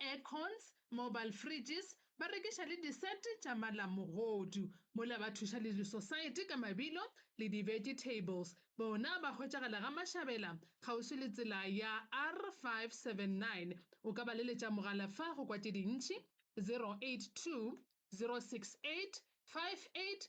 aircons, mobile fridges, ba rekiša le di-set tša malamogodu, mola ba thuša le disosaete ka mabilo le di-vegetables. Bona ba hwetšagala Gamašabela, kgauswi le tsela ya R579. O ka ba leletša mogala fa go kwa tše dintši, 082 068 58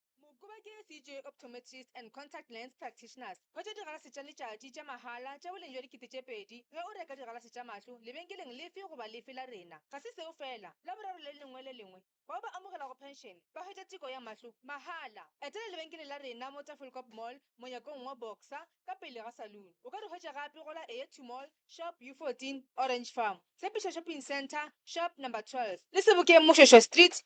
Mokoba ke CJ Optometrists and Contact Lens Practitioners ba tšwa digalase tša letšatši tša mahala tša boleng bja dikete tše pedi ge o reka digalase tša mahlo lebenkeleng lefe goba lefe la rena. Ga se seo feela, Laboraro le lengwe le lengwe, bao ba amogelago phenšene ba hwetša teko ya mahlo mahala. Etela lebenkele la rena mo Tafelkop Mall, monyakong wa Boxer, ka pele ga saloon. O ka re hwetša gape go la Eyetu Mall, shop U 14, Orange Farm, Tshepišo Shopping Centre, shop number 12, le Sebokeng Mošošo Street,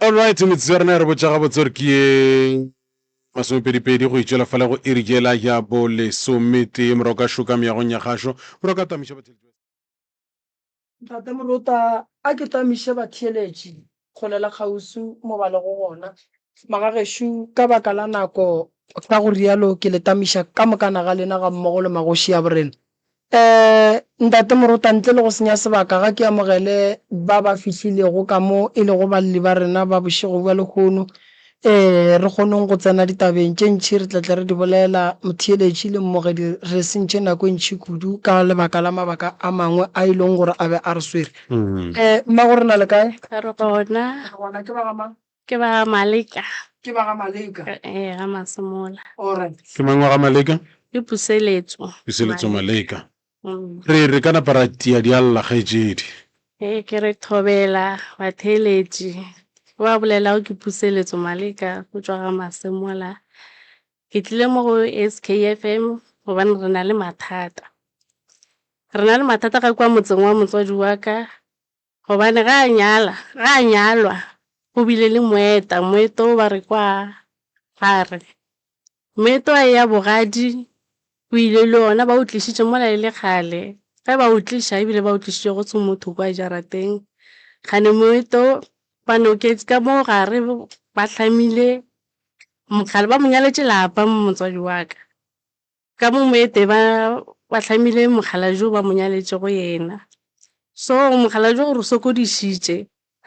All right, metsotso ya rena e re botša gabotse gore ke ye masomepedipedi go itšwela fale go iri jela ya bo lesometee morago ka šoka meagong ya gašo morago ka tamiša batheletši Ntate Morota, a ke tamiše batheeletši go le la kgauswi mo ba lego gona. Magagešo, ka baka la nako, ka go realo ke le tamiša ka mokana ga lena gammogo le magoši a borena. Ee, Ntate Morota, ntle le go senya sebaka, ga ke amogele ba ba fihlilego ka mo e lego balli ba rena ba bošego bja lehono. Ee, re kgonong go tsena ditabeng tše ntši re tla tle re di bolela. Motheeletši le mmogedi, re sentše nako e ntši kudu ka lebaka la mabaka a mangwe a e leng gore a be a re swere. Ee, mmago re na le kae? Re gona. Re gona. Ke ba ga mang? Ke ba ga Maleka. Ke ba ga Maleka. Ee, ga Masemola. Alright. Ke mang wa ga Maleka? Ke Puseletso. Puseletso Maleka. Re re ka napa ra tia dialla kgaetšedi. Ee, ke re thobela batheeletši. Ke ba bolelago ke Puseletso Maleka go tšwa ga Masemola. Ke tlile mo go SKFM gobane re na le mathata. Re na le mathata ga kwa motseng wa motswadi wa ka, Gobane ge a nyala, ge a nyalwa, go bile le moeta, moeta wo ba re kwa gare. Moeta wa eya bogadi, o ile le ona, ba o tlišitše mola e le kgale. Ge ba o tliša, ebile ba o tlišitše go tswa motho kwa jarateng, kgane moeta wo, ba noketše ka mo gare, ba hlamile mokgale, ba mo nyaletše lapa motswadi wa ka. Ka mo moete ba ba hlamile mokgalabje o ba mo nyaletšego yena. So mokgalabje o re sokodišitše.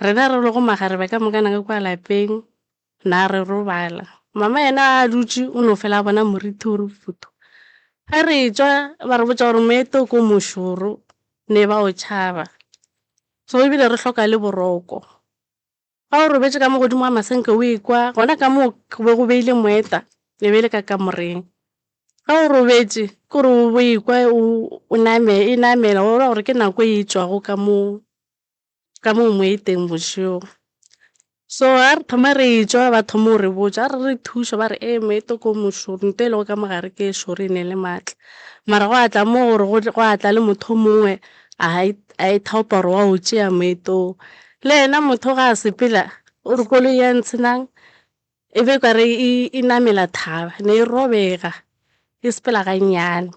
Rena re lego makgarebe ka moka naka kua lapeng, na re robala. Mama yena a dutše o no fela a bona morithi o re futhu. Ge re tšwa ba re botša gore moete o ko mošoro ne ba o tšhaba. So ebile re hloka le boroko. Ga o robetše ka mo godimo ga masenke o ekwa, gona ka moo go be go beile moeta, e be e le ka kamoreng. Ga o robetše ke gore o bo ekwa o e namela, wa bona gore ke nako e e tšwago ka moo, ka moo moeteng bošego. So ga re thoma re e tšwa ba thoma go re botša, ga re re thuša ba re ee moeta o ko mošoro, nto e lego ka mo gare ke e šoro e ne e le maatla. Mara gwa tla mo gore gwa tla le motho o mongwe a e thaopa gore wa o tšea moeta o. Le yena motho ga a sepela o re koloi ya Ntshinang e be kare e namela thaba, ne e robega e sepela gannyane.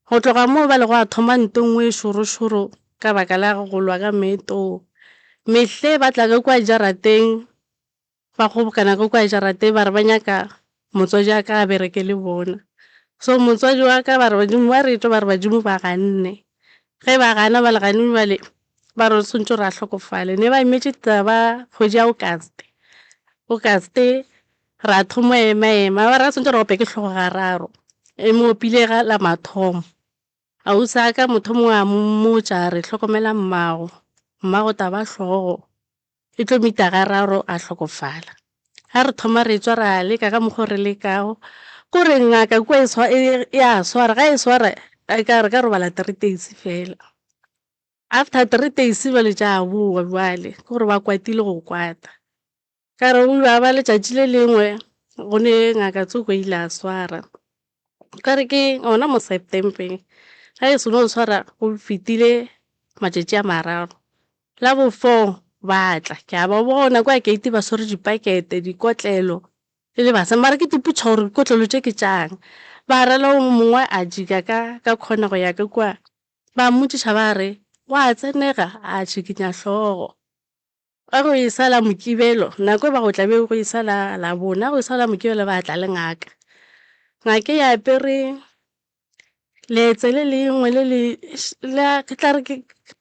Go tloga moo ba le gwa thoma nto e nngwe e šorošoro ka baka la go lwa ka meetong. Mehle ba tla ka kua jarateng Ba kgobokana ka kua jarateng ba re ba nyaka motswadi wa ka a bereke le bona. So motswadi wa ka ba re badimo ba re etšwe ba re badimo ba ganne. Ge ba gana ba le gane bjale ba re o swantšwe gore a hlokofale. Ne ba emetše taba kgwedi ya August. August ra thoma go ema ema ba re ga swantšwe re ope ke hlogo ga raro e mo opile ga la mathomo. Ausi wa ka motho o mongwe a mmotša a re hlokomela mmago, mmago taba hlogo. E tlo mita ga raro a hlokofala. Ga re thoma re etswa ra leka ka mokgo re lekago. Ko re ngaka kua ya swara, ga e swara e ka re ka robala three days fela. After three days bjale tša bowa bjale ke gore ba kwatile go kwata. Ka re gwa ba letšatši le lengwe go ne ngaka Tsuko ile a swara. Okare ke gona mo September-eng ga e seno ntshwara go fetile matšatši a mararo, la bo four ba tla ke a ba bona kwa gate ba swere dipakete, dikotlelo e le basadi mara ke ipotšiša gore dikotlelo tše ke tša'ng. Ba ra le yo mongwe a jika ka ka corner go ya ka kua, ba mmotšiša ba re wa tsenega? A tšhikinya hlogo. Ba go e sa la Mokibelo, nako e ba go tla be go e sa la Labona, go e sa la Mokibelo ba tla le ngaka. Ngaka e apere letse le lengwe le le, la, ke tla re ke,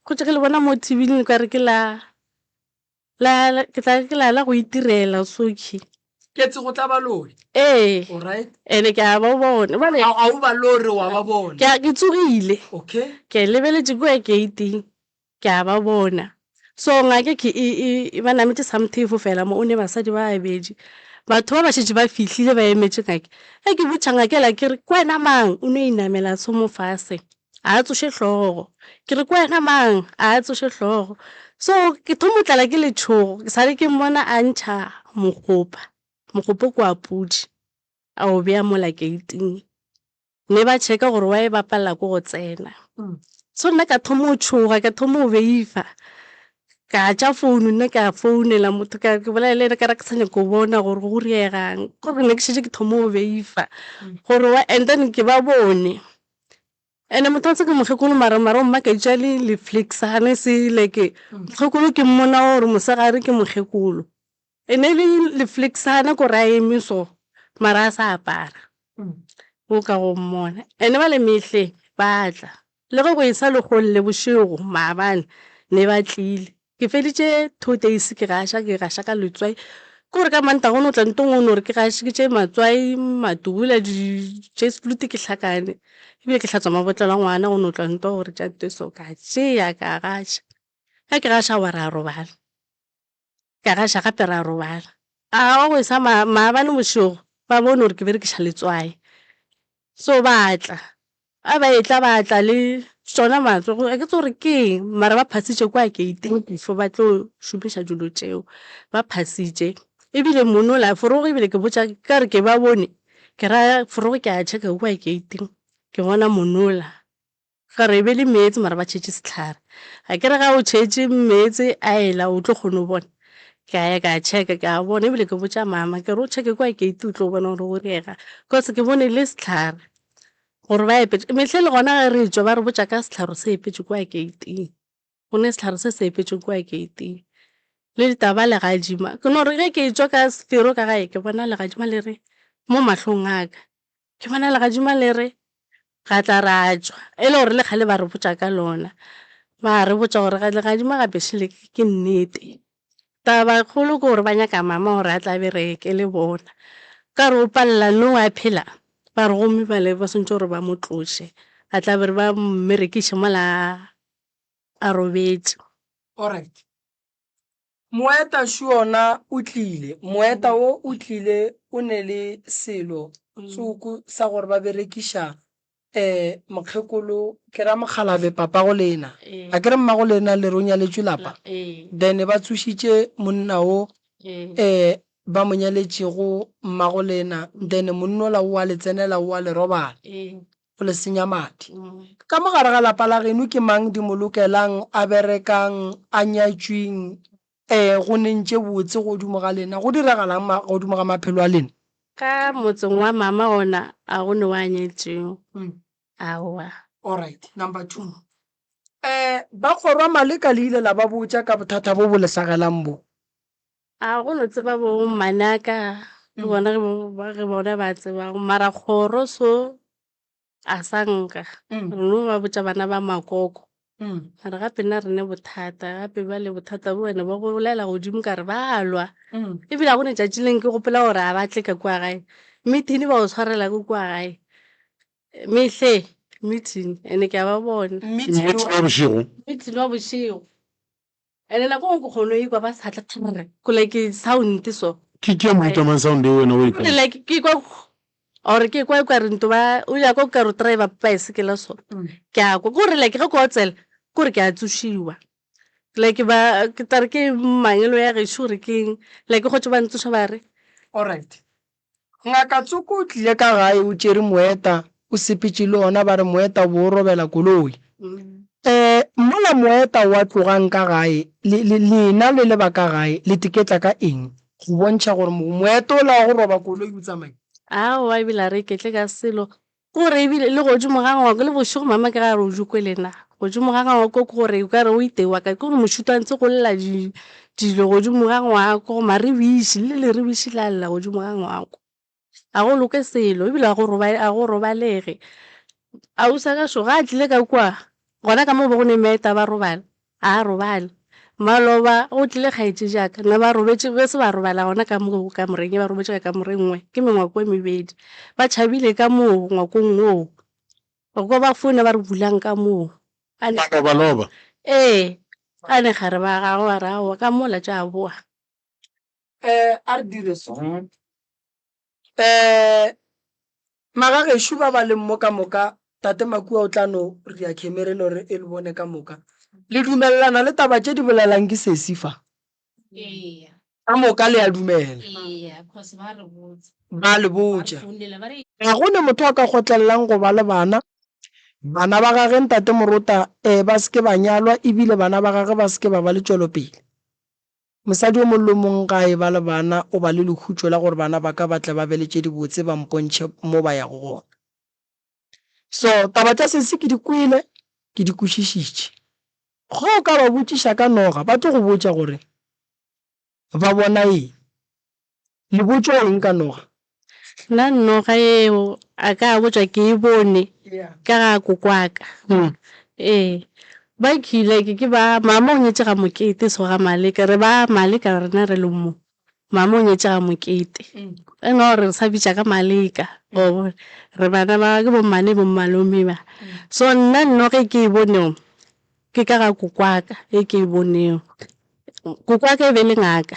go tše ke le bona mo TV-ing le ka re ke la, la, ke tla re ke la, la go itirela sokhi. Ketse go tla ba lore. Ee. Alright. Ene ke a ba bona. Bale. A, a o ba lore wa ba bona. Ke a, ke tsogile. Okay. Ke lebeletše kua gate-ing. Ke a ba bona. So ngake ke e, e, e ba nametše samthefo fela mo, o ne basadi ba babedi. Batho ba ba šetše ba fihlile, ba emetše ngake. Ge ke botša ngake la ke re, Ke wena mang? O no inamela tshomo fase. A a tsoše hlogo. Ke re, Ke wena mang? A a tsoše hlogo. So ke thomo tlala ke letšhogo, ke sa le ke mmona a ntšha mogopa. Mogopo ke wa pudi, a o bea mola keiting. Ne ba checka gore wa e bapalela ko go tsena. So nna ka thoma go tshoga, ka thoma go beifa. Ka tša founu nna ka founela motho ka ke bolela le ena ka re ke sa nyaka go bona gore go reegang. Ke gore ne ke šetše ke thoma go beifa gore wa and then ke ba bone. And-e motho wa tseba ke mokgekolo mara marong mma ka itša le le flicksane se like mokgekolo ke mmona gore mosegare ke mokgekolo. E ne le lefleksana ko ra eme so mara a sa apara o ka go mmona ene ba le mehle ba tla le ge go e sa le golle bošego maabane ne ba tlile ke feditše two days ke gaša ke gaša ka letswai ke gore ka mantaga o no tla ntong o no re ke gašitše matswai matubula jesplute ke hlakane ebile ke hlatswa mabotlelo a ngwana go no tla nto gore tša nto so ka tšea ka gaša ge ke gaša wa re a robala. ka gaša gape ra robala. A wa go e sa ma, maabane bošego ba bone gore ke berekiša letswai. So ba tla. A ba etla ba tla le tšona matswe go, a ke tsebe gore ke eng mara ba phasitše kwa geiteng before ba tlo šomiša dilo tšeo. Ba phasitše. E bile monna o la, forogo e bile ke botša, ka re ke ba bone, ke ra forogo ke a checka kwa geiteng, ke bona monna o la. Ga re ebele meetse mara ba tšhetše sehlare. A ke re ga o tšhetše meetse a ela o tlo kgona go bona? Ke a ya ka checka ke a bona ebile ke botša mama ke re o checke kwa gate o tlo bona gore go diega cause ke bone e le sehlare gore ba epetše. Mehleng le gona ge re tšwa ba re botša ka sehlare se epetše kwa gate-ing. go ne sehlare se se epetšwe kua keiting le ditaba legadima. Ke no re ge ke tšwa ka sefero ka gae ke bona legadima le re mo mahlong a ka, ke bona legadima le re ga tla ra tšwa e le gore le kgale ba re botša ka lona, ba re botša gore legadima ga bešo le ke nnete. Taba kgolo ke gore ba nyaka mama gore a tle a bereke le bona, ka re o palela no a phela, ba re gomme bale ba swantšwe gore ba mo tloše a tla be re ba mmerekiše mola a robetše. Alright. Moeta Shuona o tlile. Moeta wo o tlile o ne le selo tsoko sa gore ba berekiša eh mokgekolo ke ra mokgalabje papago lena. A ke re mmago lena le re o nyaletšwe lapa? Then ba tsošitše monna wo eh ba mo nyaletšego mmago lena then monnola o a le tsenela o a le robala. o le senya madi. Ka mo gare ga lapa la genu ke mang di mo lokelang, a berekang, a nyatšwing, e go neng tše botse godimo ga lena? Go diragalang godimo ga maphelo a lena? Ka motseng wa mama ona a go ne wa nyetšwing? Aowa. Alright, number two. E ba kgorwa maleka le ile la ba botša ka bothata bo bo le hlagelang bo? A go no tseba bo manaka le bona ge bo- ba- ge bona ba tsebago mara kgoro so a sa nka Mm. re no ba botša bana ba makoko Mm. mara gape nna re ne bothata gape ba le bothata bo wena ba go bolela godimo ka re ba lwa Mm. ebile a go ne tšatši leng ke gopola gore a ba tle ka kua gae meeting ba o tshwarela ko kua gae mehle meeting ene ke a ba bona Meeting wa bošego meeting wa bošego Ene nako nngwe ke kgono ikwa ba sa tle kgrr ko like sound so. Ke ke ya mo itamang sound eo wena o e kry. Like ke ikwa or ke ikwa ikwa rinto ba o ya kwa ka ro driver baesekela so ke a kwa gore like ge ko otsela gore ke a tsošiwa like ba ke tla re ke mangelo ya gešo gore keng like go tšwa ba ntsoša ba re. Alright Ngaka Tsoko o tlile ka gae o tšere moeta, o sepetše le ona ba re moeta o be o robela koloi. Ee, mola moeta wa tlogang ka gae, le, le, lena le le ba ka gae, le teketla ka eng, go bontšha gore mo, moeta ola wa go roba koloi o tsamaile? Aowa, ebile a re iketle ka selo, Gore e bile le godimo ga ngwako, le bošego mama ke ga re o jokwe le na. Godimo ga ngwako ke gore o ka re o itewa kae, ke gore mošito a ntse go lla di, dilo godimo ga ngwako, maribiši, le leribiši la lla godimo ga ngwako. Ga go loke selo, e bile ga go robale, ga go robalege. Ausi wa ka šo ga a tlile ka kua, gona ka mo go be go ne meeta ba robala, A a robale. Maloba, go tlile kgaetšejaka. Ne ba robetše, be se ba robala gona ka mo kamoreng ye, ba robetše ka kamore e nngwe, ke mengwako e mebedi. Ba tšhabile ka moo ngwakong woo. Re kwa ba founa ba re bulang ka moo. A ne. Malobaloba. Ee. A ne gare ba gagwe ba re, Aowa, ka mola tša boa. A re dire so. Eh, magagešo ba ba leng mo ka moka, Tate Makua o tla no ria khemere lo re e le bone ka moka. Le dumelelana le taba tše di bolelang ke sesi fa? Eya, Ka moka le a dumela. eya, cause ba re botsa, Ba le ba re botša. founela, ba re Ga go ne motho a ka kgotlelelang go ba le bana. Bana ba gage, Ntate Morota, eh, ba se ke ba nyalwa, e bile bana ba gage ba se ke ba ba le tšwelopele. Mosadi yo mongwe le yo mongwe ge a eba le bana o ba le lehutšo la gore bana ba ka ba tle ba be le tše dibotse ba mpontšhe mo ba yago gona. So, taba tša sesi ke di kwele, ke di kwešišitše. Ge o ka ba botšiša ka noga ba tlo go botša gore ba bona eng. Lebotšo eng ka noga? Nna noga yeo a ka botša ke e bone ka ga kokwaka. Ee, ba kile ke ba, mama o nyetše ga Mokete so ga Maleka, re ba Maleka rena re le mo, mama o nyetše ga Mokete. E no re re sa bitša ka Maleka wa bona, re bana ba ke bo mmane bo mmalome ba. So nna noga e ke e bonego ke ka ga kokwaka e ke e bonego. Kokwaka e be e le ngaka.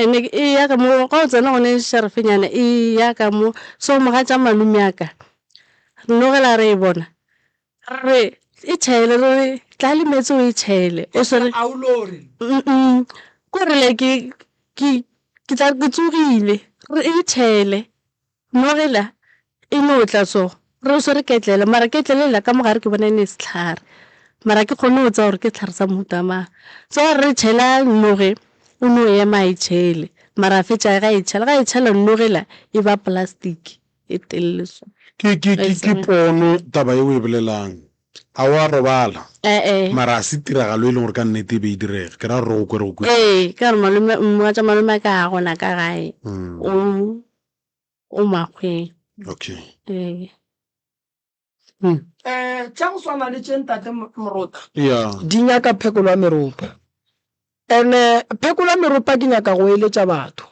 And-e eya ka mo, ga o tsena gone šarafenyana eya ka mo, so mogatša malome wa ka, re no ge la re e bona, re re e tšhele, re re tla le meetse o e tšhele o swere, k'ore like ke, ke tla re ke tsogile, re re e tšhele. Nogela e no tla so, re o swere ketlele, mara ketlele yela ka mo gare ke bona e ne sehlare, mara ga ke kgone go tseba gore ke sehlare sa mohuta mang. So a re re tšhela Noge, o no ema a e tšhele, mara a fetša ge a e tšhela, ga e tšhela Noge yela e ba plastic e telele so. Ke, ke, ke, ke pono taba ye o e bolelang. A wa robala? E-e. Mara ga se tiragalo e leng gore ka nnete e be e direga, ke ra gore re go kwere go kwešiša. Ee, ka gore malome, mogatša malome wa ka ga a gona ka gae, o. o makgweng okay ee um tša go swana le tše ntate morota yeah di nyaka phekolo ya meropa ene phekolo ya meropa ke nyaka go eletša batho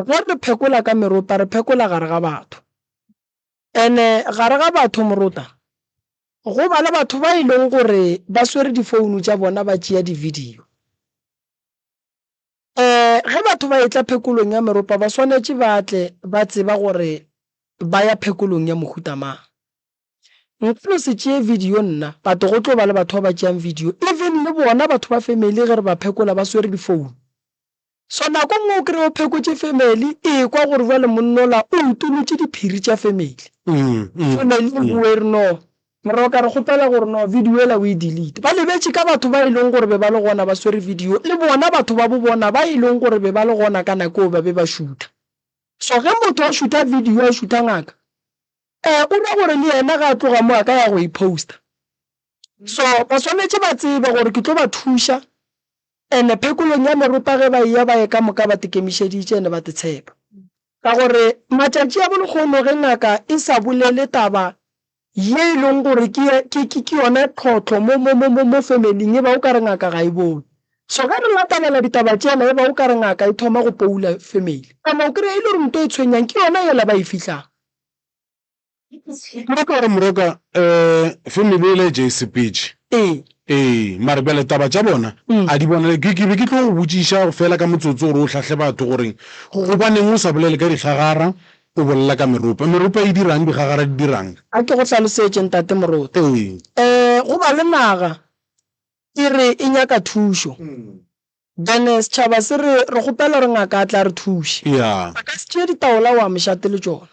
ge re phekola ka meropa re phekola gare ga batho ene gare ga batho morota go ba le batho ba e leng gore ba swere difounu tša bona ba tšea di-video Ge batho ba etla phekolong ya meropa ba swanetše ba tle ba tseba gore ba ya phekolong ya mohuta mang. Nka no se tšee video nna, but go tlo ba le batho ba ba tšeang video, even le bona batho ba family ge re ba phekola ba swere difounu. So nako nngwe o kry-e o phekotše family e kwa gore bjale monnola o utolotše diphiri tša family, family e boe e re no, Moroka re kgopela gore no video ela o e delete. Ba lebetše ka batho ba e leng gore be ba le gona ba swere video le bona batho ba bo bona ba e leng gore be ba le gona ka nako eo ba be ba šutha. So ge motho a šutha video a šutha ngaka eh o ra gore le yena ge a tloga mo a ka ya go e poster. So ba swanetše ba tsebe gore ke tlo ba thuša and phekolong ya meropa ge ba eya ba ye ka moka ba te kemišeditše and ba te tshepa. Ka gore matšatši a bo lekgono ge ngaka e sa bolele taba ye e leng gore ke, ke, ke, ke yona tlhohlo mo, mo, mo, mo, mo family-ing, e ba o ka re ngaka ga e bone. So ge re latelela ditaba tsela, e ba o ka re ngaka e thoma go poula family. Kana o kry-a e le gore nto e tshwenyang ke yona yela ba e fihlang. Nna ka gore moroka um family yela e ja e sepetše. Ee. Ee, mare bjale taba tša bona a di bonale. Ke, ke be ke tlo go botšiša fela ka motsotso gore o hlahle batho gore gobaneng o sa bolele ka dihlagara, O bolela ka meropa. Meropa e dira'ng? Digagara di dira'ng? A ke go hlalosetše, Ntate Moruti? Ee. Ee, go ba le naga e re e nyaka thušo, then setšhaba se re, re kgopela gore ngaka a tle a re thuše. Yeah. A ka se tšee ditaola wa mošate le tšona.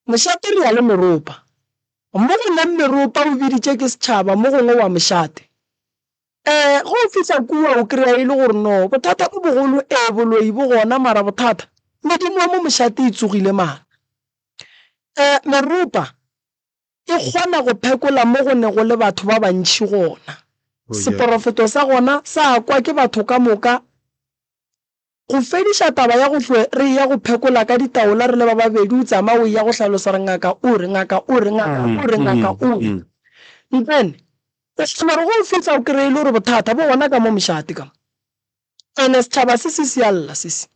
Mošate re ya le meropa. Mo go leng meropa o biditše ke setšhaba, mo gongwe wa mošate. Ee, ge o fihla kua o kry-a e le gore no, bothata bo bogolo, ee, boloi bo gona, mara bothata, medimo ya mo mošate e tsogile mara. Um, meropa e kgona go phekola mo go ne go le batho ba bantšhi gona. Seporofeto sa gona sa kwa ke batho ka moka, Go fediša taba ya go hlwe re eya go phekola ka ditaola re le ba babedi o tsamaya o eya go hlalosa gore ngaka o re, ngaka o re, ngaka o re, ngaka o re. Mpene, o kgona gore ge o fihla o kreye e le gore bothata bo gona ka mo mošate ka mo. Ene setšhaba se se sialla se se.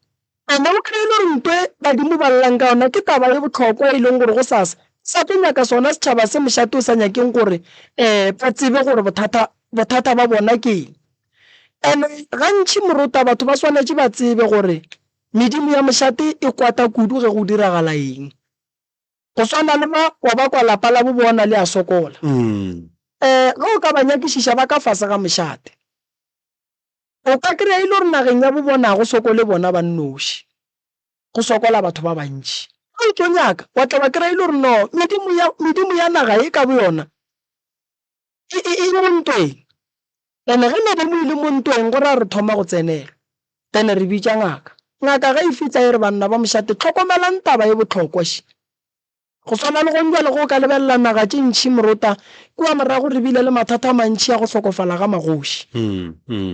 Ene o kreye e le gore nto e badimo ba llang ka yona ke taba ye bohlokwa e leng gore go sa sa sa tlo nyaka sona setšhaba se mošate o sa nyakeng gore um ba tsebe gore bothata bothata ba bona ke eng. And-e gantši morota batho ba swanetše ba tsebe gore medimo ya mošate e kwata kudu ge go diragala eng. Go swana le ba wa ba kwa lapa la bo bona le a sokola. Um ge o ka ba nyakišiša ba ka fase ga mošate, o ka kry-a e le gore nageng ya bo bona ga go sokole bona ba nnoši, go sokola batho ba bantši. Ge o tlo nyaka wa tla wa kry-a e le gore no medimo ya, medimo ya naga ye ka boyona E, e, e mo ntweng. And-e ge ne be mo ile mo ntweng, go raya re thoma go tsenelwa. Then re bitša ngaka. Ngaka ge e fihla e re, Banna ba mošate, hlokomelang taba e bohlokwa še. Go swana le gong bjale ge o ka lebelela naga tše ntši morota, kua morago re bile le mathata a mantši a go hlokofala ga magoši.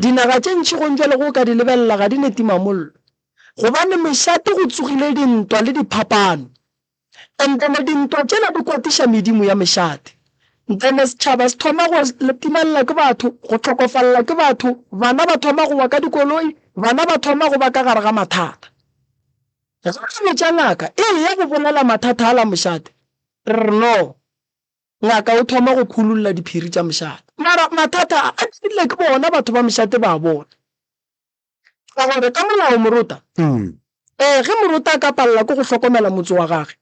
Dinaga tše ntši gong bjale ge o ka di lebelela ga di ne timamollo, gobane mošate go tsogile dintwa le diphapano. Nthane dintwa tšela di kwatiša medimo ya mešate. Nthane setšhaba se thoma go latimalela ke batho, go hlokofalela ke batho, bana ba thoma go wa ka dikoloi, bana ba thoma go ba ka gare ga mathata. Ge re botša ngaka e eya go bolela mathata ala mošate, re re no. Ngaka o thoma go khululla diphiri tša mošate. Mara mathata a, a dirile ke bona batho ba mošate ba a bona. Ka gore ka molao morota, ee, ge morota a ka palela ke go hlokomela motse wa gage,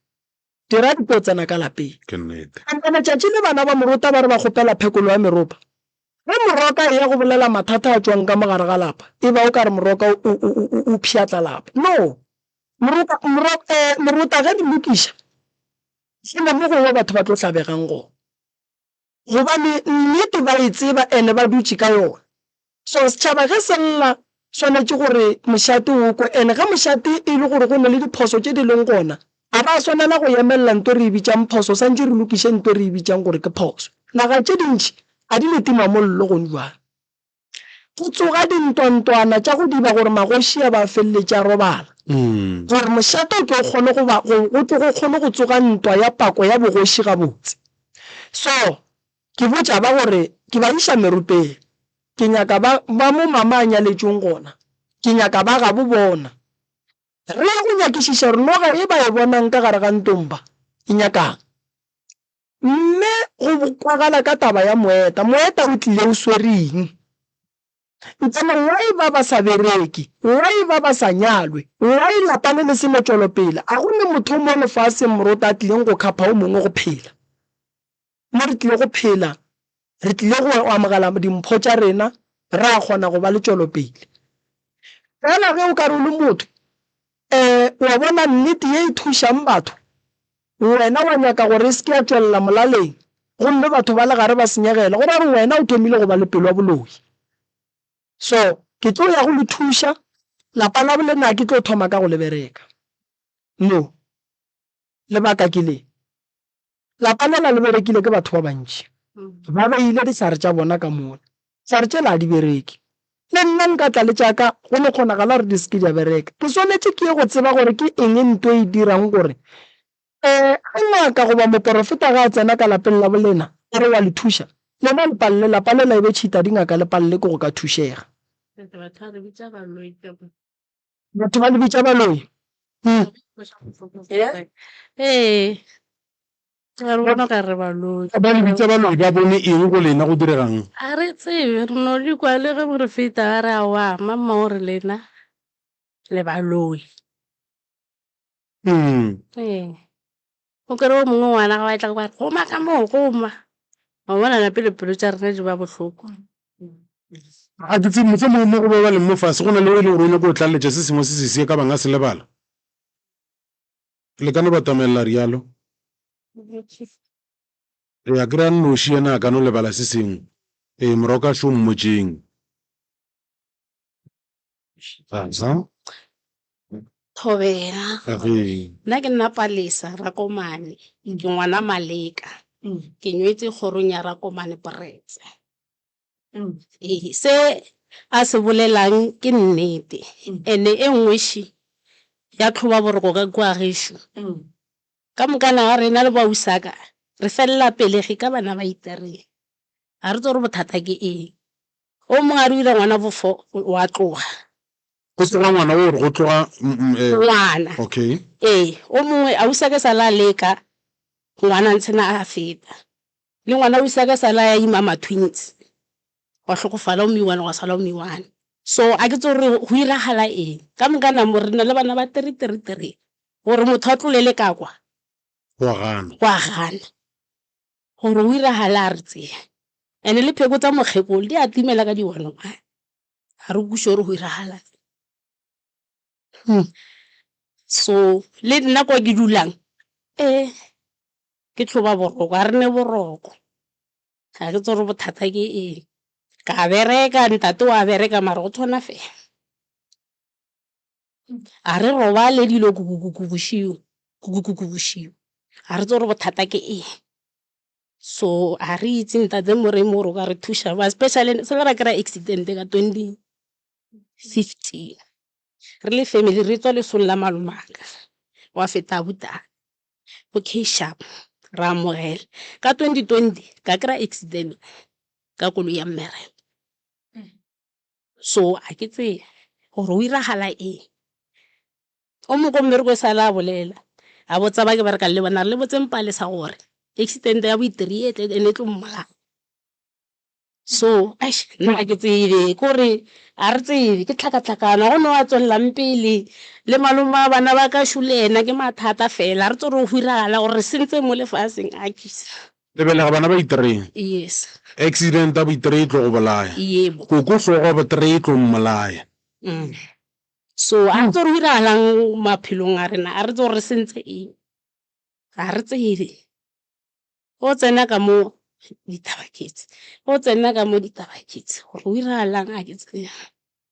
dira di tlo tsena ka lapeng. Ke nnete. Kapa letšatši le bana ba morota ba re ba kgopela phekolo ya meropa, ge moroka eya go bolela mathata a tšwang ka mo gare ga lapa, e ba o ka re moroka o, o, o, o, o pšhatla lapa. No. Moroka, moro, ee, morota ge di lokiša, gona mo gongwe batho ba tlo tlabegang gona. gobane nnete ba e tseba and ba dutše ka yona. So setšhaba ge se lla swanetše gore mošate o kwe and ge mošate e le gore go na le diphoso tše di leng gona ga ba swanela go emelela nto e re e bitšang phoso swantše re lokiše nto e re e bitšang gore ke phoso. Naga tše dintši ga di ne timamollo gone bjale. Go tsoga dintwantwana tša go diba gore magoši a ba a feleletše a robala, gore mošate o tlo kgone go ba, go tlo go kgone go tsoga ntwa ya pako ya bogoši gabotse. So, ke botša ba gore, ke ba iša merupeng. Ke nyaka ba, ba mo Mama a nyaletšweng gona, ke nyaka ba gabo bona. Re ya go nyakišiša gore noga e ba e bonang ka gare ga ntomba e nyaka'ng. Mme go kwagala ka taba ya moeta, moeta o tlile o swere eng? Ntsana why ba ba sa bereke, why ba ba sa nyalwe, why lapa le le selo tšwelopele, a go ne motho mo lefaseng moroto a tlileng go khapha o mongwe go phela mo re tlile go phela re tlile go amogela dimpho tša rena, re a kgona go ba le tšwelopele. Fela ge o ka re o le motho, um wa bona nnete ye e thušang batho, wena wa nyaka gore e se ke ya tšwelela molaleng gomme batho ba le gare ba senyegele, go ra gore wena o thomile go ba le pelo ya boloi. So, ke tlo ya go le thuša, lapa labo le nna ke tlo thoma ka go le bereka. No. Lebaka ke le. Lapa lela le berekile ke batho ba bantši. Ba beile dihlare tša bona ka mola. Dihlare tšela ga di bereke. Le nna nka tla le tša ka, go no kgonagala gore di se ke di a bereka. Ke swanetše ke ye go tseba gore ke eng nto e dirang gore ge ngaka goba moporofeta ge a tsena ka lapeng la bolena a re wa le thuša, lena le palele. Lapa lela e be tšhita dingaka le palele ke go ka thušega. Batho ba le bitša baloi. Ee, ba re bona okare baloi. Ba le bitša baloi ba bone eng go lena, go direga'ng? A re tsebe, re no di kwa le ge re feta ba re aowa, mamma o re lena le baloi. Mm. Ee. O kere o mongwe ngwana ga wa etla go ba re, goma ka moo, goma. Wa bona na pele pelo tša rena di ba bohloko. a ke tsebe mohlomongwe mo go ba ba leng mo fase go na le o e le gore o nyako o tlaletša se sengwe se sesee ka bang a se lebala le ka no ba tamaelela rialo re ya kry-a nnoši yena a ka no lebala se sengwe ee moroka šo mmotšeng Thobela, Nna ke nna Palesa Rakomane, ke ngwana Maleka. Ke nyetše kgorong ya Rakomane Poretse. Ee, se a se bolelang ke nnete and-e e nngwe še ya tlhoba boroko ka kua gešo. Ka mokana ga rena le bo ausaka re felela pelegi ka bana ba itereng. Ga re tsebe gore bothata ke eng. O mongwe a re o ile ngwana bo fo wa tloga. Go se ga ngwana wo re go tloga ngwana. Okay. Ee, o mongwe a usake sa la leka ngwana ntshe na a feta. Le ngwana usake sa la ya ima ma twins wa hlokofala o miwane gwa sala o miwane. So a ke tso re go iragala eng ka moka na mo re na le bana ba three three three gore motho a tlolele ka kwa. Wa gana. Wa gana. Gore o iragale a re tseya. Ene le pheko tsa mokgekolo di a timela ka diwanong a ga re kweše gore go iragala eng. So le nna kwa ke dulang ke tlhoba boroko, ga re ne boroko. Ga ke tsebe gore bothata ke eng. Ka bereka, ntate o a bereka mara o tshwana fela. A re robale dilo kukukuku bošego, kukukuku bošego. Ga re tsebe gore bothata ke eng. So ga re itse Ntate Moremi gore o ka re thuša bjang, especially se le ra kry-a accident ka twenty fifteen, re le family re tswa lesong la malomaka, gwa feta abuti ko K-sharp, re amogela. Ka twenty twenty ka kry-a accident ka koloi ya mmereko. So a ke tsebe gore go iragala eng. O mongwe ko mmerekong e sale a bolela, a botsa ba ke berekang le bona, a re, Le botseng Palesa gore accident-e ya bo-three e tle and-e e tlo mmolaya. So eish nna ga ke tsebe, ke gore ga re tsebe, ke tlhakatlhakano. Ga go na o a tswelelang pele, le malome wa bana ba ka shole ena ke mathata fela. Ga re tsebe gore go go iragala gore re sentse mo lefaseng, akhis. Lebelega bana ba itree. Yes. Accident ya boitree e tlo go bolaya. Yebo. Koko hlogo ya botree e tlo mmolaya. Mm. So a re tse go diragalang maphelong a rena, a re tse gore sentse eng, ga re tsebe. O tsena ka mo ditaba ke tse, o tsena ka mo ditaba ke tse, gore go diragalang a ke tsebe.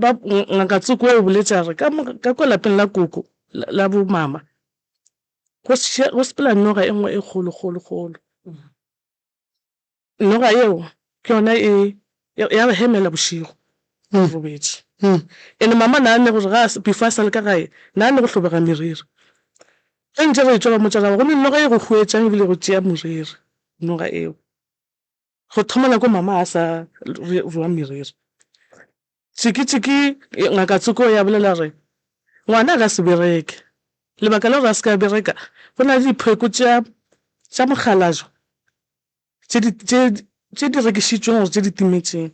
ba ngaka Tsoko o boletše a re ka kwa lapeng la koko la bo mama go sepela noga e nngwe e kgolo kgolo kgolo noga eo ke yona e ya re hemela bošego re robetše and mama na ne gore ga before a sale ka gae na ne go hlobega meriri ge ntše re tšwa ba motša ra ba gomme noga e go huetšang ebile go tšea moriri noga eo. Go thomela ko mama a sa rua meriri, Tšiki-Tšiki, Ngaka Tsoko ya bolela gore ngwana a ka se bereke. Lebaka la gore a se ke a bereka, go na le dipheko tša mokgalajwa tše di rekišitšweng gore tše di timetšeng.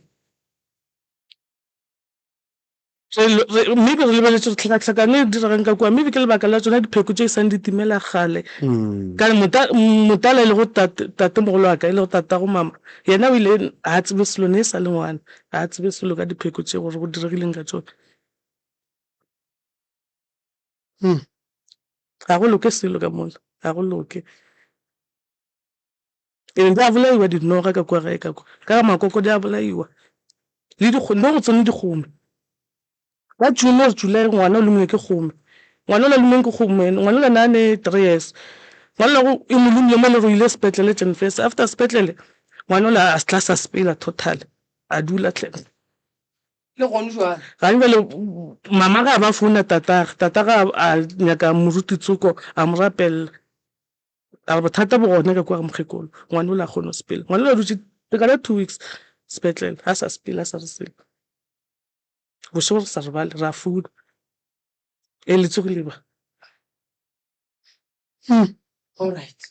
maybe re lebeletse gore tlhakatlhakano e diregang ka kua maybe ke lebaka la tsona dipheko tse e sang di timela gale mm. kana motala e le go tate mogolo wa ka e le go tata go mama yena o ile ga tsebe selo ne e sa le ngwana ga tsebe selo ka dipheko tse gore go diregileng ka tsone ga hmm. go loke selo ka mola ga go loke Ke be ba bolaiwa dinoga ka kua gae, ka kwa, ka ga makoko di a bolaiwa, le dikgome, mo go tsone dikgome. Ka June or July ngwana o lomilwe ke kgome, ngwana o la lumiweng ke kgome ene, ngwana o la ne a ne three years, ngwana o la e mo lomile mo e le gore o ile sepetlele Jan first, after sepetlele ngwana o la a tla sa sepela totally, a dula hle. Le gone jwale. Gane jwale mama ga a ba founa tatagwe, tatagwe a nyaka moruti Tsoko a mo rapelela, A re bothata bo gona ka kua mokgekolo, ngwana o le a kgone go sepela. Ngwana o le a dutše lekana two weeks sepetlele, ga sa sepela, ga sa re selo. Bošego re sa robale, ra founa, Ee, le tsogile ba? Alright.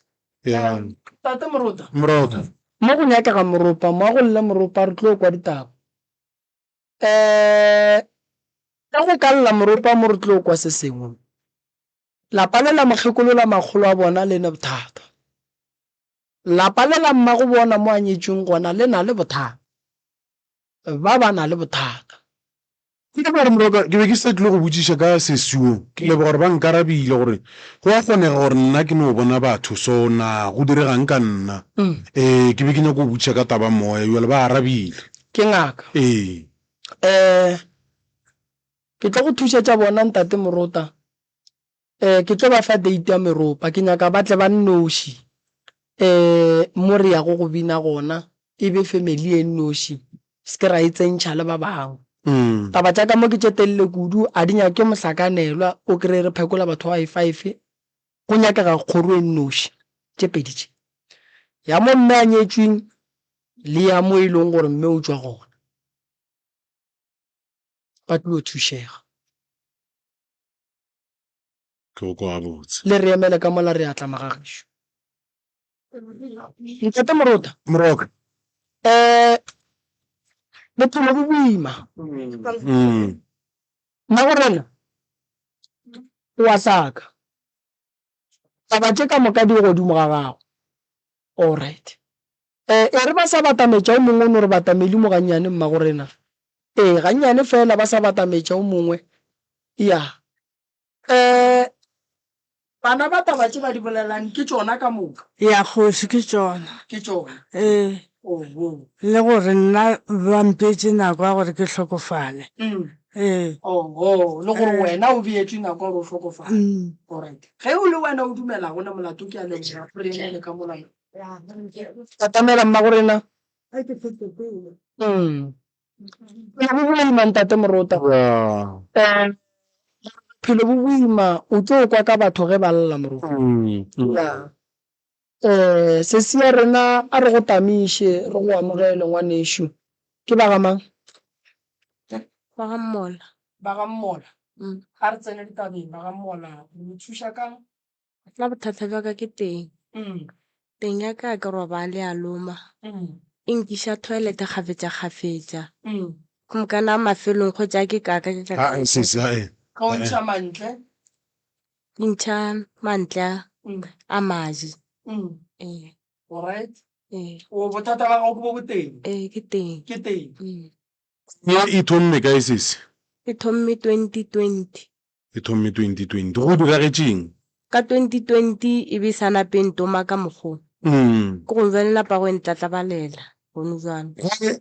Yeah. Tate Moropa. Moropa. Mo go nyakega Moropa mo, a go lle Moropa, re tlo kwa ditaba. Ka go ka lla Moropa mo re tlo kwa se sengwe. Lapa le la mokgekolo la makgolo a bona le ne bothata. Lapa le la mmago bona mo a nyetšweng gona le na le bothata. Ba ba na le bothata. Ke leboga gore morago ke be ke sa tlile go botšiša ka sesio. Ke leboga gore ba nkarabile gore go a kgonega gore nna ke no bona batho. So na go diregang ka nna? Ee, ke be ke nyako go botšiša ka taba moya. Bjale ba arabile. Ke ngaka. Ee. Ee. Ke tlo go thušetša bona, Ntate Morota. Ee, ke tlo ba fa date ya meropa. Ke nyaka ba tle ba nnoši, ee, mo re yago go bina gona, e be family e nnoši, se ke ra e tsentšha le ba bangwe. Taba tša ka mo ke tše telele kudu, a di nyake mohlakanelwa, o kry-e re phekola batho ba bayi-five, go nyakega kgoro e nnoši, tše pedi tše, ya mo mme a nyetšweng le ya mo e leng gore mme o tšwa gona. ba tlo thušega. Tlhoko gabotse. Le re emele ka mola, re a tla, Magagešu. Ntate Morota. Moroka. Um, bophelo bo boima. Mmagorena, o a hlaka. Taba tše ka moka di godimo ga gago. All right. Ee, e re ba sa batametša o mongwe o no re batameli mo gannyane, Mmagorena. Ee, gannyane feela ba sa batametša o mongwe. Ya. Ee, bana ba taba tše ba di bolelang ke tšona ka moka. Ya, Kgoši, ke tšona. Ke tšona. Ee. Oho. Le gore nna ba mpetše nako ya gore ke hlokofale. Umm. Ee. Oho, le gore wena o beetšwe nako ya gore o hlokofale. Umm. Alright. Ge o le wena o dumelago le molato, ke a leboga, re emele ka mola yo. Katamela Mmagorena. Boima ntate Morota. Phelo bo boima o tlo kwa ka batho ge ba lla Morota. Se se ya rena a re go tamiše re go amogele ngwanešu. Ke ba ga mang? Ba ga Mmola. Ba ga Mmola. Ga re tsene ditabeng ba ga Mmola. Re go thuša kang? Nna bothata bja ka ke teng. Teng ya ka ha ke robale ya loma. E nkiša toilet kgafetšakgafetša. Go mokana a mafelong gotša ha ke kaka ke ka Haa sesi haa ee. Ka o ntšha mantle? Ke ntšha mantle a a maje. Ee. Alright. Ee. O bothata ba gago ke bo boteng? Ee ke teng. Ke teng. Ee. Ye e thomme kae sesi? E thomme twenty twenty. e thomme 2020. Go diragetše'ng? Ka 2020 e be e sa nape e ntoma ka mokgo. Ke go bjale e napa go e ntlatlabalela gonu bjalo.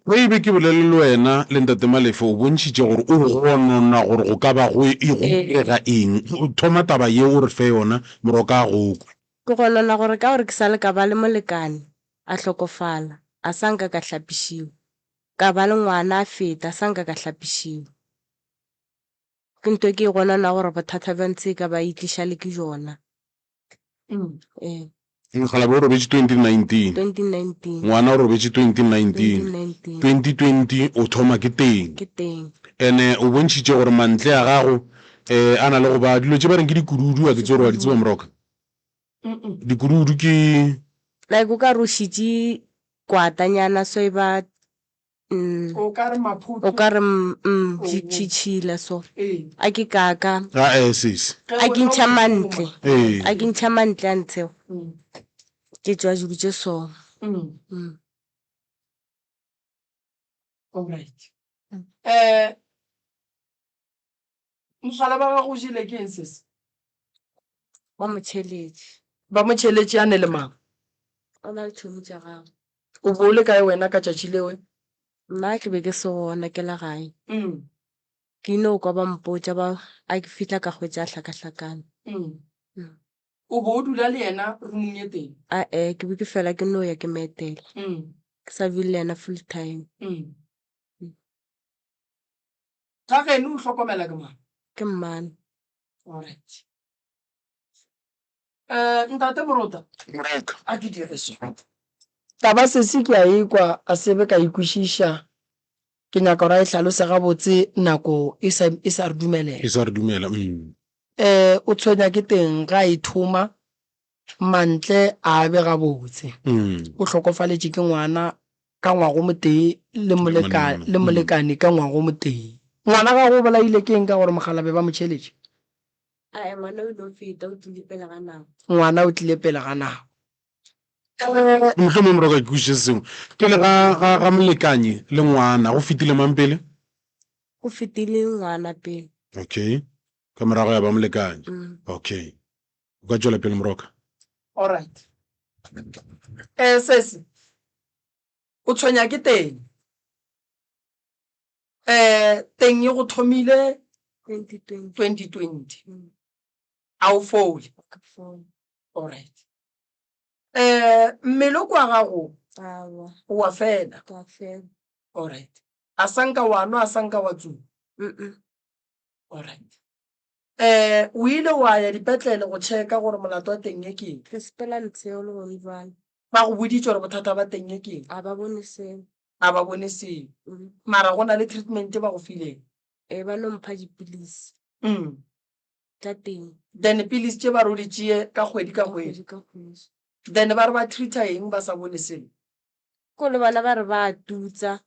Ge e be ke bolele le wena le Ntate Malefe, o bontšhitše gore o gonona gore go ka ba go e go direga eng. Thoma taba ye o re fe yona morwa ka a go kwe. Ke gonona gore ka gore ke sa le ka ba le molekane, a hlokofala, a sa nka ka hlapišiwa. Ka ba le ngwana a feta, a sa nka ka hlapišiwa. Ke nto ke gona na gore bothata bja ntshe ka ba itliša le ke jona. E. Mokgalabje o robetše 2019. 2019. Ngwana o robetše 2019. 2019. 2020 o thoma ke teng. Ke teng. Ene o bontšhitše gore mantle a gago e a na le go ba dilo tše ba reng ke dikududu a ke tsore wa di tseba moroka. Dikududu ke. Like o ka re o šitše kwatanyana so e ba mm, o ka re o maphuthu ka re mm, mm, tši- tši- tšhila so ee a ke kaka ga e sese Ge a o ke le ntšha o mantle mongwe. ee a ke ntšha mantle a ntshego Mm, ke tšwa dilo tše song mm, Mm. alright. Mm. Eh, Mohlala wa gago o jele ke eng sese? Ba mo tšheletše. Ba mo tšheletše a ne le mang? O na le tšhomi tša gagwe. O bo o le kae wena ka tšatši leo? Nna ke be ke se gona, ke le gae. Ke ile go kwa ba mpotša ba a ke fihla ka hwetša a hlakahlakane. O bo o dula le yena rumong ye tee? A-e, ke be ke fela ke no ya ke mo etela. Ke sa dule le yena full time. Ga geno o hlokomela ke mang? Ke mmane. Alright. Eh, ntate Morota. Moreka. A ke dire so. Taba sesi ke a ekwa a sebe ka ikwešiša. Ke nyaka gore a e hlalose gabotse nako e sa, e sa re dumelela. E sa re dumela, umm. Eh, o tshwenya ke teng ga a ithoma, Mantle a be gabotse o hlokofaletše ke ngwana ka ngwago motee le molekane ka ngwago motee. Ngwana ga go bolaile ke eng ka gore mogala be ba mo tšheletše? A e ngwana o ile o feta, o tlile pele ga nako. Ngwana o tlile pele ga nako. Mohlomong mora ka ke kwešiše se sengwe. Pele ga ga ga molekane le ngwana go fetile mang pele? Go fetile ngwana pele. Okay. Ka morago ya ba molekane. Okay. o ka tšwela pele moroka Alright. Eh sesi. O tshwenya ke teng. Eh teng e go thomile 2020 2020. Mm, A o fole. ka fone. Alright. Eh mmele o kwa gago Awa, wa fela. ka fela. Alright. A sanka wa nwa a sanka wa tsuba. Mm-mm. Alright. Ee, o ile wa ya dipetlele go tšheka gore molato wa teng e keng? Re sepela letseo le gone bjale. Ba go boditše gore bothata ba teng e keng? A ba bone selo. A ba bone selo. Mm. Mara go na le treatment ba go fileng? Ee, ba no mpha dipilisi Mm. tša teng Then pilisi tše ba re o di tšee ka kgwedi ka ka kgwedi. kgwedi ka kgwedi. Then ba re ba treata eng ba sa bone selo? Ko le bona ba re ba a tutsa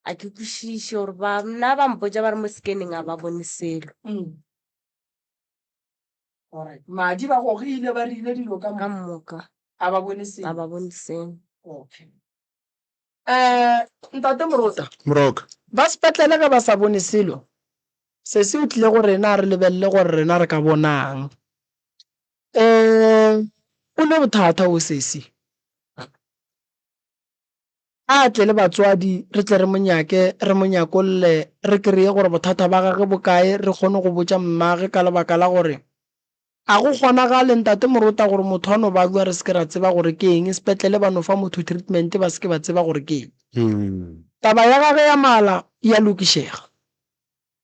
a ke kwešiše gore ba nna ba mpotsa ba re mo scanning a ba bone selo Mm. Alright. madi ba gogile ba rile dilo ka ka mo moka a ba bone a selo ba bone selo okay um ntate morota moroka ba sepetlele ge ba sa bone selo se se o tlile go rena re lebelele gore rena re ka bonang um o ne bothata o sesi A tle le batswadi, re tle re mo nyake, re mo nyakolle, re kreye gore bothata ba gage bo kae, re kgone go botša mmage ka lebaka la gore A go kgonagale, Ntate Morota, gore motho a no balwa re se ke ra tseba gore ke eng, sepetlele ba no fa motho treatment ba se ke ba tseba gore ke eng? Taba ya gage ya mala e a lokišega.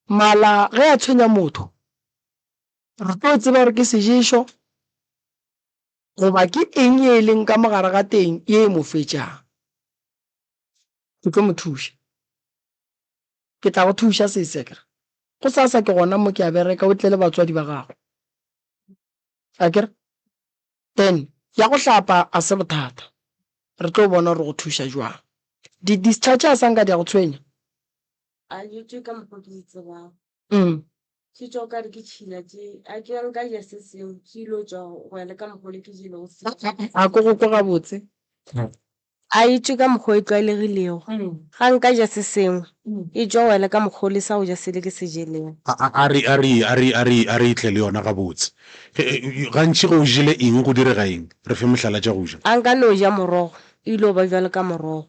Mala ge a tshwenya motho, re tlo tseba gore ke seješo. Goba ke eng ye e leng ka mo gare ga teng ye e mo fetšago? Ke tlo mo thuša. Ke tla go thuša, sese. Ke re, Go sasa ke gona mo ke a bereka, o tle le batswadi ba gago. A ke re, Then, ya go hlapa a se bothata. Re tlo bona gore re go thuša jwang. Di-discharge a sa nka di a go tshwenya? A dutše ka mokgwa ke di tsebago. Umm. Ke tšwa o ka re ke tšhila tše. A ke bjang ka ja se seo, ke yilo tšwa go ya le ka mokgwa ole ke jelego seo. A ko go kwa gabotse? A e tšwe ka mokgwa o e tlwaelegilego. Ga nka ja se sengwe, e tšwa go ya le ka mokgwa ole sa go ja sele ke se jelego. A re, a re, a re, a re, a re e tle le yona gabotse. Gantši ge o jele eng go direga eng? Re fe mohlala tša go ja. A nka no ja morogo, e yilo ba bjalo ka morogo.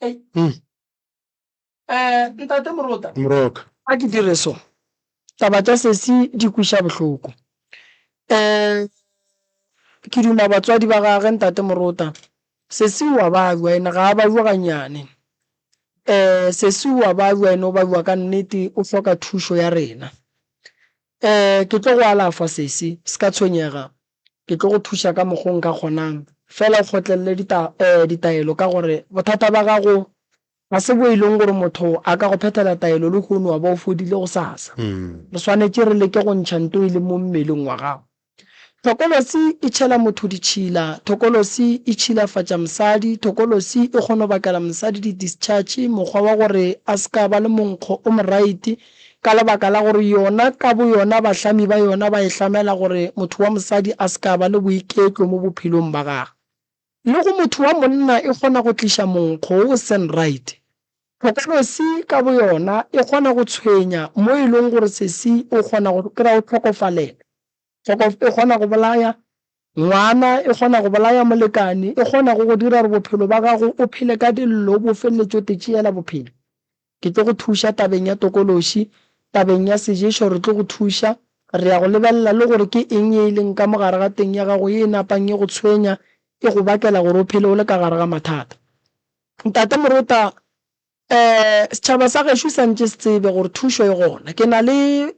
Ei. Mm. Eh, ntate Morota, moroka a ke dire so. Taba tša sesi di kwiša bohloko. Eh, ke duma batswadi ba gage ntate Morota. Sesi wa balwa ene ga a balwa ganyane. Eh, sesi wa balwa ene o balwa ka nnete o hloka thušo ya rena. Eh, ke tlo go alafa sesi, se ka tshwenyega. Ke tlo go thuša ka mokgo nka kgonang. Feela o kgotlelele dita, eh, ditaelo, ka gore bothata ba gago ga se bo e leng gore motho a ka go phethela taelo lehono wa ba o fodile gosasa. Re swanetše re leke go ntšha nto e leng mo mmeleng wa gago. Thokolosi e tšhela motho ditšhila. Thokolosi e tšhilafatša mosadi. Thokolosi e kgono bakela mosadi di-discharge, mokgwa wa gore a se ka ba le monkgo o moraite. Ka lebaka la gore yona ka boyona bahlami ba yona ba e hlamela gore motho wa mosadi a se ka ba le boiketlo mo bophelong ba gagwe. Le go motho wa monna e kgona go tliša monkgo wo o seng right. Tlhokolosi ka boyona e kgona go tshwenya mo e leng gore sesi o kgona go kry-a o hlokofalela. Kgokof e kgona go bolaya ngwana, e kgona go bolaya molekane, e kgona go go dira gore bophelo ba gago o phele ka dillo, o bo felletše o te tšeela bophelo. Ke tlo go thuša tabeng ya tokološi, tabeng ya seješo re tlo go thuša, re ya go lebelela le gore ke eng ye e leng ka mo gare ga teng ya gago ye e napang e go tshwenya, e go bakela gore o phele o le ka gare ga mathata. Ntate Morota, Ee, setšhaba sa gešo sa ntše se tsebe gore thušo e gona. Ke na le.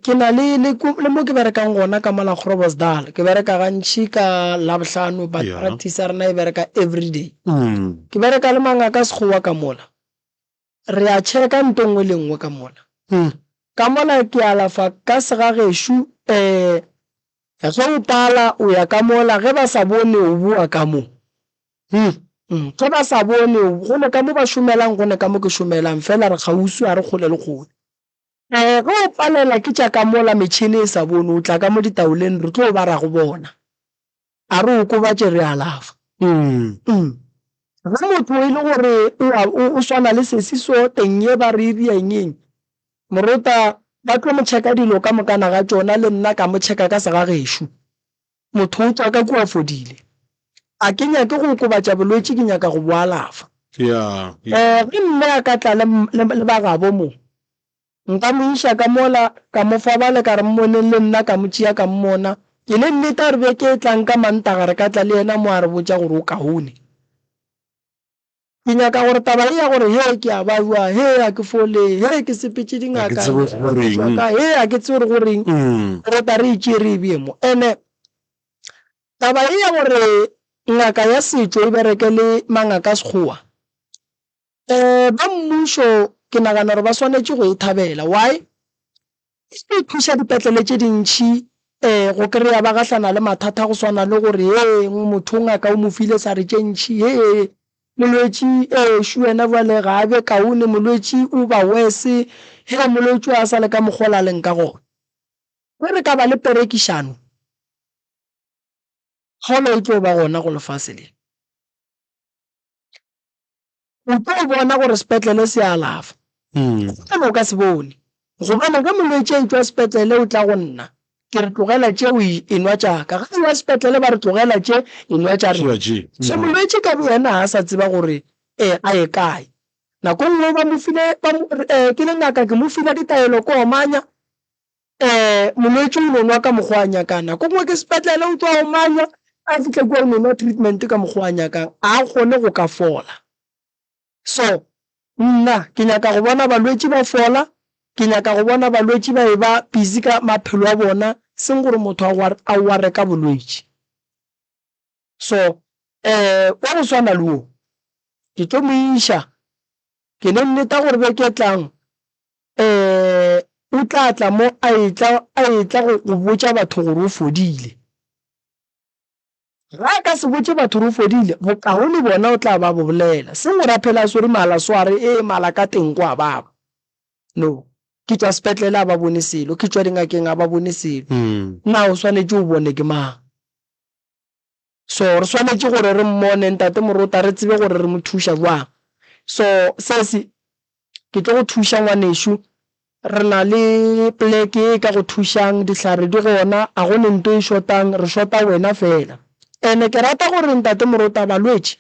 Ke na le le le mo ke berekang gona ka mola Groblersdal ke bereka gantši ka labohlano but Yeah. practice ya rena e bereka everyday Mm. ke bereka le mangaka sekgowa ka mola re a checka nto nngwe le nngwe ka mola Mm. ka mola ke alafa ka segagešu um ge o pala o ya ka mola ge ba sa bone o boa ka mo Mm. Mm, ge ba sa bone o- gone ka mo ba šomelang gone ka mo ke šomelang fela re kgauswi ga re kgole le kgole Ee, ge o palelwa ke tša ka mola metšhene e sa bone, o tla ka mo ditaoleng, re tlo bara go bona. A re okobatše, re alafa. Ge motho e le gore o swana le sesi so, teng ye ba re e bea engeng, morota ba tlo mo tšheka dilo ka mokana ga tšona, le nna ka mo tšheka ka segagešo. Motho o tšwa ka kua a fodile. A ke nyake go okobatša bolwetši, ke nyaka go bo alafa. Ee, ge mme a ka tla le, le, le bagabo mo, nka mo iša ka mola, ka mo fa bale, ka re, Mmoneng le nna, ka mo tšea ka mmona. E le nnete, a re beke e tlang ka Mantaga re ka tla le yena mo a re botša gore o kaone. Ke nyaka gore taba ye ya gore hee ke a baiwa, hee ga ke fole, hee ke sepetše dingaka, ke tšwa ka, hee ga ke tsebe gore go reng, ke rata re e tšere e bje mo. And-e taba ye ya gore ngaka ya setšo e bereke le mangaka a Sekgowa, ba mmušo ke nagana gore ba swanetše go e thabela. Why? E tlo thuša dipetlele tše dintši go kry-a ba gahlana le mathata go swana le gore heng motho o ngaka o mo file sa re tše ntši hee molwetši ešo wena bjale ga a be kaone molwetši o ba worse hee molwetši a sa le ka mokgwa o la leng ka gona. Ge re ka ba le perekišano kgolo e tlo ba gona go lefase le. O tlo bona gore sepetlele se a alafa. Gobane o ka se bone. Gobane ge molwetši a etšwa sepetlele o tla go nna, ke re tlogela tše o enwa tša ka. Ge a ewa sepetlele ba re tlogela tše, enwa tša rena. So molwetši ka boyena ga a sa tseba gore a ye kae. Nako e nngwe ba mo file, ke le ngaka ke mo file ditaelo ke omanya, Ee, molwetši o no nwa ka mokgwa a nyakang. Nako nngwe ke sepetlele o tloa o manywa, a fihle kua o no nwa treatment ka mokgwa a nyakang, a a kgone go ka fola. So, nna ke nyaka go bona balwetši ba fola, ke nyaka go bona balwetši ba e-ba busy ka maphelo a bona, seng gore motho a wa-, a ware ka bolwetši. so um wa go swana le wo ke tlo mo iša ke le nneta gore beke e tlang um o tla tla mo a etla a etla go go botša batho gore o fodile ga a ka se botše batho gore o fodile bokaone bona o tla ba bo bolela se go ra phela a swere mala sware e mala ka teng kwa baba no ke tswa sepetlele a ba bone selo ke tswa dingakeng a ba bone selo na o swanetše o bone ke mang so re swanetše gore re mmone ntate morota re tsebe gore re mo thuša jwang so sese ke tlo go thuša ngwanešu re na le pleke e ka go thušang dihlare di gona a go ne nto e shotang re shota wena fela ene ke rata gore ntate morota balwetši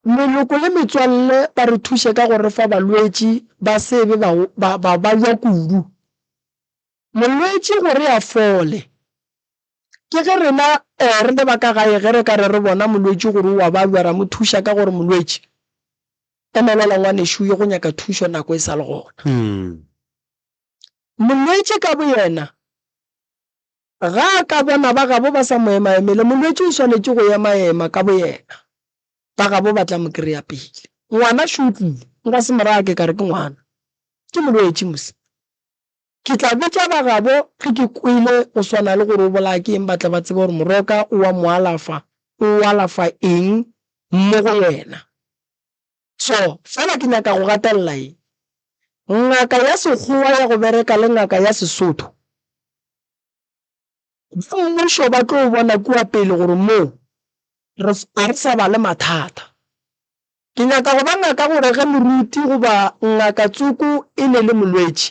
Meloko le metswalle ba re thuše ka go re fa balwetši ba se be ba ba lwa kudu. Molwetši gore a fole, ke ge rena re le ba ka gae ge re ka re re bona molwetši gore o a ba lwa, ra mo thuša ka go re, Molwetši, emelela ngwanešu, o ye go nyaka thušo nako e sa le gona. Molwetši ka boyena Ga a ka bona ba gabo ba sa mo emaemele, molwetši o swanetše go emaema ka boyena. Ba gabo ba tla mo kry-a pele. Ngwana šo o tlile. Nka se mo raya ke ka re ke ngwana. Ke molwetši mos. Ke tla botša ba gabo ge ke kwele go swana le gore o bolaya ke eng ba tle ba tsebe gore moroka o a mo alafa, o alafa eng mo go yena. So, fela ke nyaka go gatelela eng? Ngaka ya Sekgowa ya go bereka le ngaka ya Sesotho, ba mmušo ba tlo bona kua pele gore moo ga re sa ba le mathata. Ke nyaka go ba ngaka gore ge moruti goba ngaka tsoko e ne le molwetši,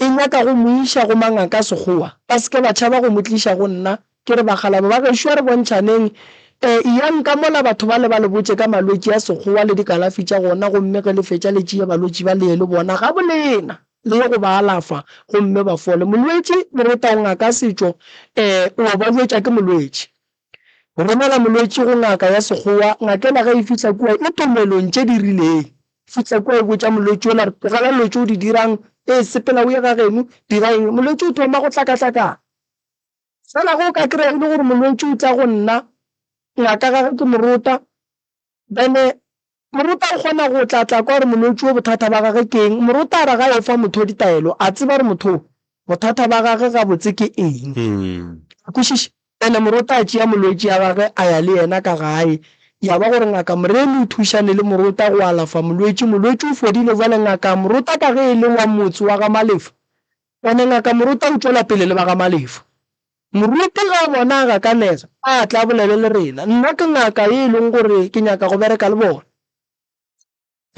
E nyaka go mo iša go mangaka a Sekgowa. Ba se ke ba tšhaba go mo tliša go nna. Ke re, Bakgalabo ba gešo, a re bontšhaneng. Eyang ka mola batho bale ba le botše ka malwetši a Sekgowa le dikalafi tša gona, gomme ge le fetša le tšee balwetši ba le ye le bona gabolena, le ye go ba alafa gomme ba fole. Molwetši, le re, Taongaka Setšo o a ba jwetša ke molwetši. Go romela molwetši go ngaka ya Sekgowa, ngakena ge e fihla kua e tomelong tše di rileng. E fihla kua e botša molwetši yola gore, Tlogela dilo tše o di dirang, ee, sepela o ye ga geno, dira eng? Molwetši o thoma go hlakahlakana. Fela ge o ka kry-a e le gore molwetši o tla go nna, ngaka gage ke morota, Bene, Morota o kgona go tla tla kwa gore molwetši wo bothata ba gage ke eng. Morota a re ga yo fa motho ditaelo, a tseba gore motho wo bothata ba gage gabotse ke eng. A kwešiša? Bene, Morota a tšea molwetši ya gage a ya le yena ka gae. Ya ba gore ngaka Moremi o thušane le Morota go alafa molwetši. Molwetši o fodile. Bjale ngaka Morota ka ge e le wa motse wa ga Malefo, bene, ngaka Morota o tšwela pele le ba ga Malefo. Moruti ge a bona a gakanega, a tla a bolele le rena. Nna ke ngaka ye e lego gore ke nyaka go bereka le bona.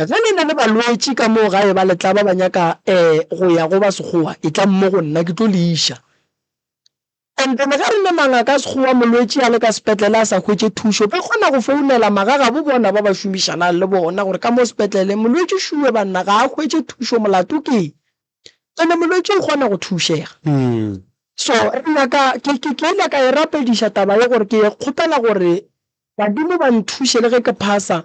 Ge le na le balwetši ka moo gae ba letla ba ba nyaka go ya go ba Sekgowa, etlang mo go nna, ke tlo le iša. And then ge re le mangaka a Sekgowa, molwetši a le ka sepetlele a sa hwetše thušo, ba kgona go founela magagabo bona ba ba šomišanang le bona gore ka mo sepetlele, Molwetši Shuwe banna ga a hwetše thušo, molato ke eng? ene molwetši o kgona go thušega mm. so re nyaka ke ke ke ile ka e rapediša taba ye gore ke kgopela gore badimo ba nthushe le ge ke phasa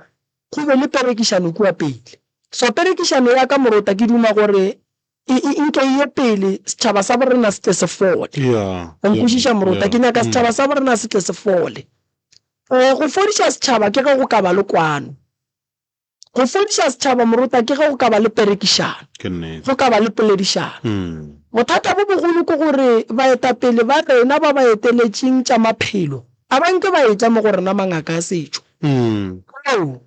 go be le perekišano kua pele so perekišano ya ka morota ke duma gore e, e, e nke ye pele setšhaba sa borena se tle se fole yeah, o nkwešiša morota yeah, ke nyaka mm. setšhaba sa borena se tle se fole um go fodiša setšhaba ke ge go ka ba le kwano Go fodiša setšhaba moruta ke ge go ka ba le perekišano, go ka ba le poledišano. Bothata bo bogolo ke gore baetapele ba rena ba ba eteletšeng tša maphelo a ba nke ba etla mo go rena mangaka a setšo. Ao,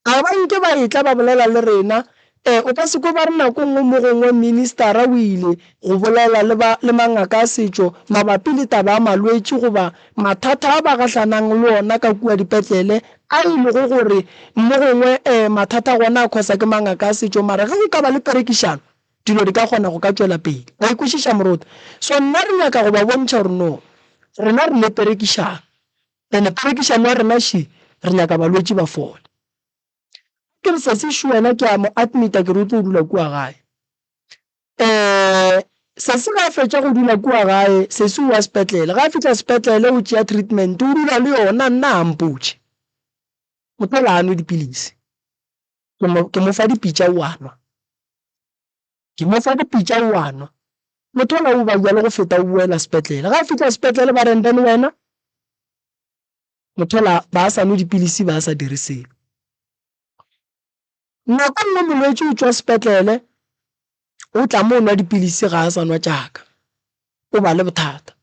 a ba nke ba etla ba bolela le rena. E, o ka se kwe ba re nako e nngwe mo gongwe ministara o ile go bolela le mangaka a setšo mabapi le taba ya malwetši goba Mathata a ba gahlanang le ona ka kua dipetlele a e lego gore mo gongwe mathata gona a khosa ke mangaka a setšo mara ge go ka ba le perekišano dilo di ka kgona go ka tšwela pele. Wa e kwešiša moruti? So nna re nyaka go ba bontšha gore no rena re le perekišano and perekišano ya rena she re nyaka balwetši ba fole. Ke re Sesi Shu wena ke a mo admita ke re o tlo dula kua gae. Ee, sesi ga a fetša go dula kua gae, sesi o wa sepetlele. Ga a fihla sepetlele o tšea treatment, o dula le yona, nna ga mpotše. O tla la a nwe dipilisi. Ke mo, ke mo fa dipitša o a nwa. Ke mo fa dipitša o a nwa. O thola o ba bjalo go feta o boela sepetlele. Ga a fihla sepetlele ba reng, then wena? O thola ba sa nwe dipilisi, ba sa dire selo. Nako nngwe molwetši o tšwa sepetlele, o tla mo nwa dipilisi ga a sa nwa tšaka, o ba le bothata.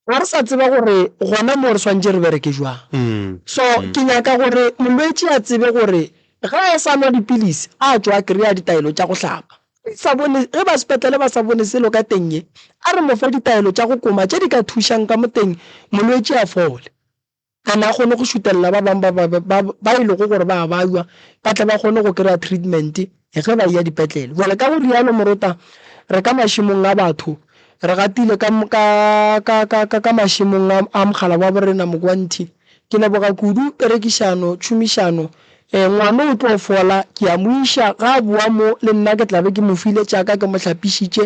Ga re sa tseba gore gona mo re swantše re bereke jwang. Mm. So mm. ke nyaka gore molwetši a tsebe gore ga a sa nwa dipilisi a tšwa a kry-a ditaelo tša go hlapa sa bone ge ba sepetlele ba sa bone selo ka teng ye a re mofe ditaelo tša go koma tše di ka thušang ka moteng molwetši a fole Kana a kgone go šutelela ba bangwe ba ba ba ba e lego gore ba a baywa ba tle ba kgone go kry-a treatment ge ba eya dipetlele. Jwale ka go realo morota re ka mašemong a batho re gatile ka ka ka ka ka ka mašemong a a mogala wa borena Mogwanthi. Ke leboga kudu perekišano tšhomišano. Ngwano o tlo fola ke ya mo iša ga a boa mo le nna ke tla be ke mo file tša ka ke mo hlapišitše.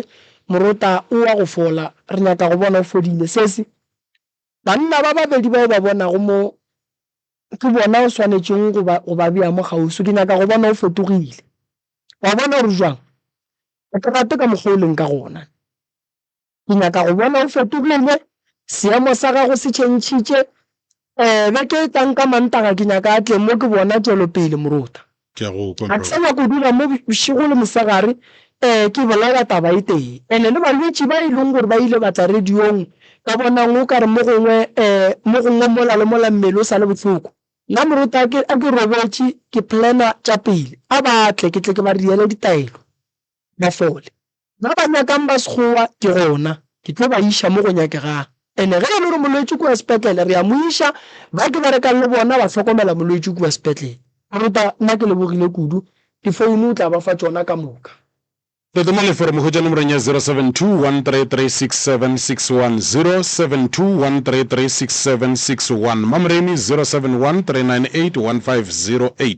Morota o wa go fola re nyaka go bona o fodile. Sesi. Banna ba babedi ba o ba bonago mo, ke bona o swanetšego go ba, go ba bea mo kgauswi. Ke nyaka go bona o fetogile. O a bona gore jwang? Ga ke rate ka mokgwa o leng ka gona. Ke nyaka go bona o fetogile, seemo sa gago se tšhentšhitše. Um, beke e tlang ka Mantaga ke nyaka a tle mo, ke bona tšwelopele, moruta. Ke a go kwa, A brother. tsena kudu ga mo bošego le mosegare, ee, ke bolela taba e tee. And le balwetši ba e leng gore ba ile ba tla radiong, ka bonang o ka re mo gongwe, ee, mo gongwe mola le mola mmele o sa le bohloko. Nna moruta a ke, a ke robetše, ke planner tša pele, a ba tle, ke tle ke ba reele ditaelo, ba fole. Ba ba nyakang ba Sekgowa ke gona ke tlo ba iša mo go nyakegang. Ene ge e le gore molwetši kua sepetlele, re a mo iša. Ba ke berekang le bona ba hlokomela molwetši kua sepetlele. Moruta, nna ke lebogile kudu. Difounu o tla ba fa tšona ka moka. Tota mo leforomong hwetša nomorong ya 0721336761, 0721336761, Mamreni, 0713981508.